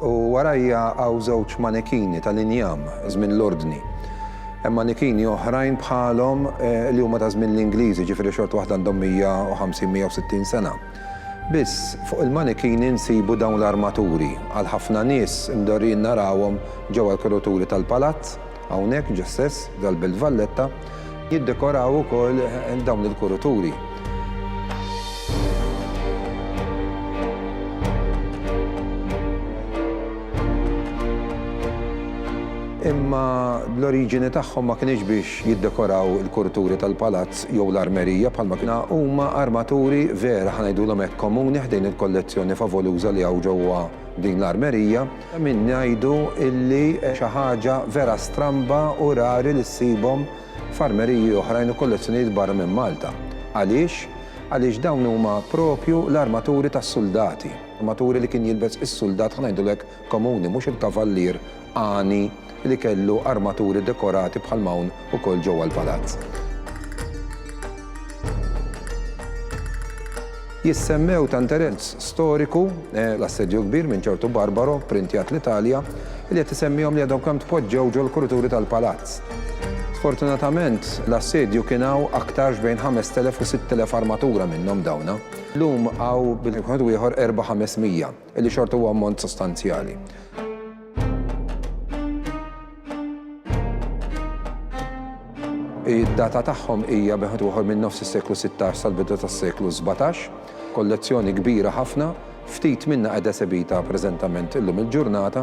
U warajja hawn żewġ manekini tal-injam, żmien l-Ordni. Hemm manekini oħrajn bħalhom li huma ta' żmien l-Ingliżi, jiġifieri xorta waħda għandhom 150, 160 sena. Biss, fuq il-manekini nsibu dawn l-armaturi. Għal ħafna nies, imdorrijin narawhom ġewwa l-kuruturi tal-palazz. Hawnhekk ġa stess, f'dal-Belt Valletta, jiddekoraw ukoll dawn il-kurituri. Imma l-oriġini tagħhom ma kinitx biex jiddekoraw il-kurituri tal-palazz jew l-armerija bħalma kien hawn. Huma armaturi vera, ħa ngħidulhom hekk, komuni ħdejn il-kollezzjoni favoluża li hawn ġewwa din l-armerija. Ta' min ngħidu illi xi ħaġa vera stramba u rari li ssibhom f'armeriji oħrajn u kollezzjonijiet barra minn Malta. Għaliex? Għaliex dawn huma proprju l-armaturi tas-suldati, armaturi li kien jilbes is-suldat, ħa ngħidulu hekk, komuni, mhux il-kavallier għani, li kellu armaturi dekorati bħal m'hawn ukoll ġewwa l-palazz. Jissemmew ta' interess storiku l-assedju kbir minn ċertu Barbaro, printjat l-Italja, li qed isemmihom li għadhom kemm tpoġġew ġol-kurituri tal-palazz. Sfortunatament, l-assedju kien hawn aktarx bejn 5,000 u 6,000 armatura minnhom dawna. Llum hawn bil-wieħed u ieħor erbgħa ħamesmija. Li xorta huwa ammont sostanzjali. Id-data tagħhom hija beħed uħor minn nofs is-seklu 16 sal-bidu tas-seklu 17, kollezzjoni kbira ħafna, ftit minnha qiegħda sebita preżentament illum il-ġurnata,